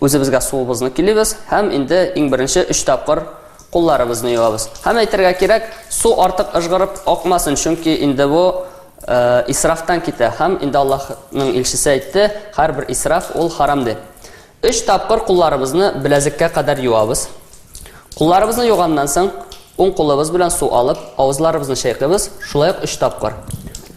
үзебезгә суыбызны килибез һәм инде иң беренче өч тапкыр кулларыбызны юабыз. Һәм әйтергә кирәк, су артык ыжгырып акмасын, чөнки инде бу э, исрафтан китә. Һәм инде Аллаһның илчесе әйтте, һәрбер исраф ул харам дип. Өч тапкыр кулларыбызны беләзеккә кадәр юабыз. Кулларыбызны юганнан соң, уң кулыбыз белән су алып, авызларыбызны чайкыйбыз, шулай ук өч тапкыр.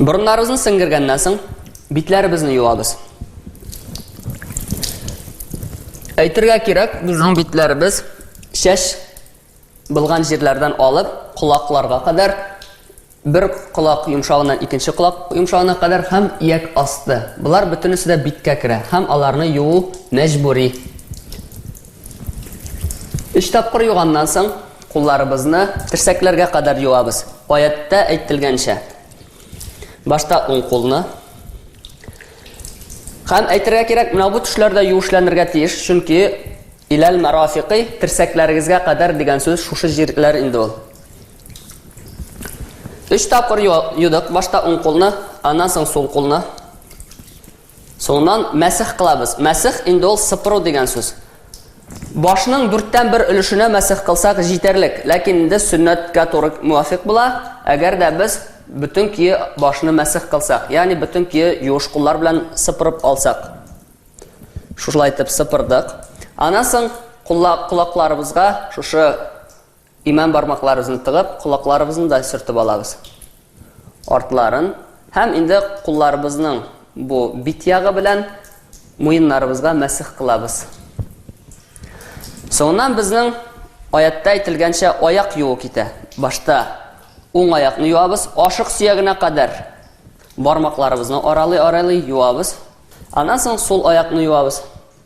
Борыннарыбызны сеңгергәннән соң, битләребезне юабыз. Әйтергә кирәк, безнең битләребез шәш булган җирләрдән алып, колакларга кадәр бер колак йомшавыннан икенче колак йомшавына кадәр һәм ияк асты. Болар бөтенесе дә биткә керә һәм аларны юу мәҗбүри. Өч тапкыр юганнан соң, кулларыбызны терсәкләргә кадәр юабыз. Аяттә әйтелгәнчә. Башта уң кулны. Һәм әйтергә кирәк, менә бу төшләрдә юешләнергә тиеш, чөнки иләл марафикы терсәкләрегезгә кадәр дигән сүз шушы җирләр инде ул. Өч тапкыр юдык, башта уң кулны, аннан соң сул кулны. Соңыннан мәсех кылабыз. Мәсех инде ул сыпыру дигән сүз. Башның дүрттән бер өлешенә мәсех кылсак җитәрлек, ләкин инде сөннәткә туры муафикъ була, әгәр дә без бөтен көе башны мәсех кылсак, ягъни бөтен көе юеш куллар белән сыпырып алсак. Шушылай итеп сыпырдык. Аннан соң кулакларыбызга шушы Имән бармакларыбызны тыгып, колакларыбызны да сөртеп алабыз. Артларын һәм инде кулларыбызның бу бит ягы белән муеннарыбызга мәсех кылабыз. Соңыннан безнең аятта әйтелгәнчә аяк юу китә. Башта уң аякны юабыз, ашык сөягенә кадәр бармакларыбызны аралый-аралый юабыз. Аннан соң сул аякны юабыз.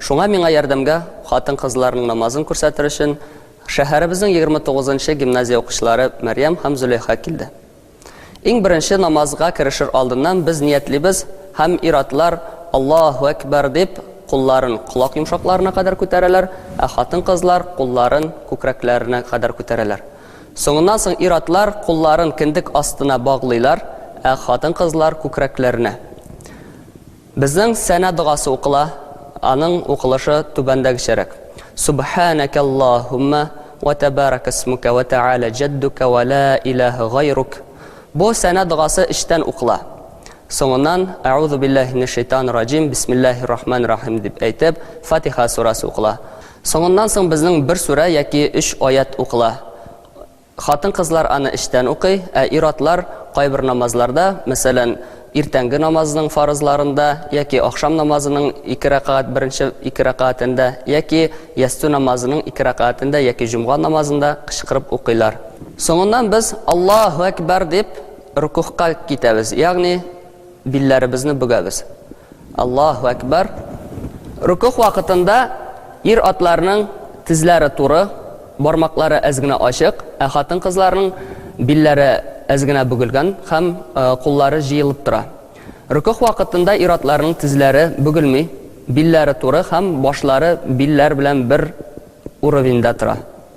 Шуңа миңа ярдәмгә, хатын-кызларның намазын күрсәтер өчен, шәһәребезнең егерме тугызынчы гимназия укучылары Мәрьям һәм Зөләйха килде. Иң беренче намазга керешер алдыннан без ниятлибез һәм ир-атлар Аллаһу әкбәр дип, кулларын колак йомшакларына кадәр күтәрәләр, ә хатын-кызлар кулларын күкрәкләренә кадәр күтәрәләр. Соңыннан соң ир-атлар кулларын кендек астына баглыйлар, ә хатын-кызлар күкрәкләренә. Безнең сәнә догасы укыла, аның укылышы түбәндәгечәрәк, Сүбхәнәкәллаһуммә вә тәбәрәкәсмүкә вә тәгалә җәддүкә вә лә иләһә гайрук. Бу сәнә догасы эчтән укыла. Соңыннан, Әгъузу билләһи минәш шәйтанир раҗим, бисмилләһир рахманир рахим дип әйтеп, Фатиха сүрәсе укыла. Соңыннан соң безнең бер сүрә яки өч аять укыла. Хатын-кызлар аны эчтән укый, ә ир-атлар кайбер намазларда, мәсәлән, иртәнге намазының фарызларында яки ахшам намазының ике рәкәгать беренче ике рәкәгатендә яки ястү намазының ике рәкәгатендә яки җомга намазында кычкырып укыйлар. Соңыннан без Аллаһу әкбәр дип рөкүгъка китәбез, ягъни Билләребезне бөгәбез. Аллаһу әкбар. Рукух вакытында ир-атларның тезләре туры, бармаклары әз генә ачык, ә хатын-кызларның билләре әз генә бөгелгән һәм куллары җыелып тора. Рукух вакытында ир-атларның тезләре бөгелми, билләре туры һәм башлары билләр белән бер уровеньдә тора.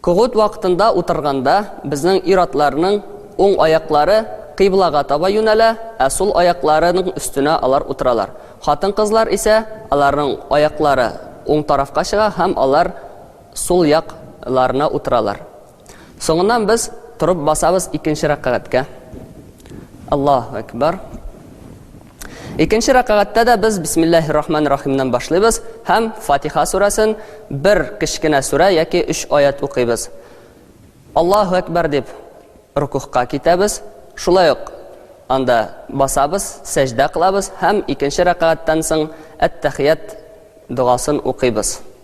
Когут вакытында утырганда, безнең ир-атларның уң аяклары кыйблага таба юнәлә, ә сул аякларының өстенә алар утыралар. Хатын-кызлар исә аларның аяклары уң тарафка чыга һәм алар сул як ларына утыралар. Соңыннан без торып басабыз икенче рәкагатькә. Аллаһу әкбар. Икенче рәкагатьтә дә без Бисмиллаһир рахманир рахимнан башлыйбыз һәм Фатиха сүрәсен бер кечкенә сүрә яки өч аят укыйбыз. Аллаһу әкбәр дип рукухка китәбез, шулай ук анда басабыз, сәҗдә кылабыз һәм икенче рәкагатьтән соң әт-тәхият догасын укыйбыз.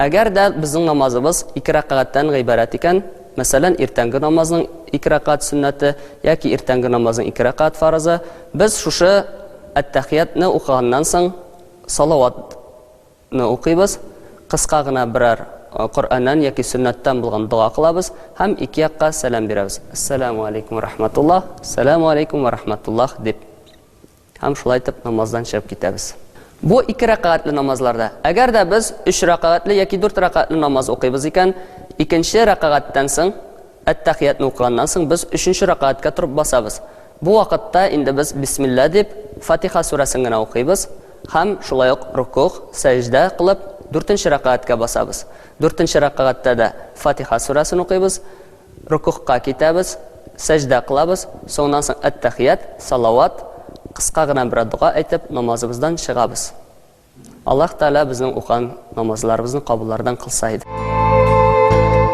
Әгәр дә безнең намазыбыз ике рәкагатьтән гыйбарәт икән, мәсәлән, иртәнге намазның ике рәкагать сөннәте яки иртәнге намазның ике рәкагать фарызы, без шушы әттәхиятне укыганнан соң салаватны укыйбыз, кыска гына берәр Коръәннән яки сөннәттән булган дога кылабыз һәм ике якка сәлам бирәбез, Әссәламү алейкүм вә рахматуллаһ, Сәламү алейкүм вә рахматуллаһ дип. Һәм шулай итеп намаздан чыгып китәбез. Бу ике рәкәгатьле намазларда. Әгәр дә без өч рәкәгатьле яки дүрт рәкәгатьле намаз укыйбыз икән, икенче рәкәгатьтән соң, әт-тәхиятне укыганнан соң, без өченче рәкәгатькә торып басабыз. Бу вакытта инде без бисмилла дип, Фатиха сүрәсен генә укыйбыз һәм шулай ук рокугъ, сәҗдә кылып, дүртенче рәкәгатькә басабыз. Дүртенче рәкәгатьтә дә Фатиха сүрәсен укыйбыз, Рөкүгъка китәбез, сәҗдә кылабыз, соңыннан соң әттәхият, салават, кыска гына берәр дога әйтеп, намазыбыздан чыгабыз. Аллаһ Тәгалә безнең укыган намазларыбызны кабуллардан кылса иде.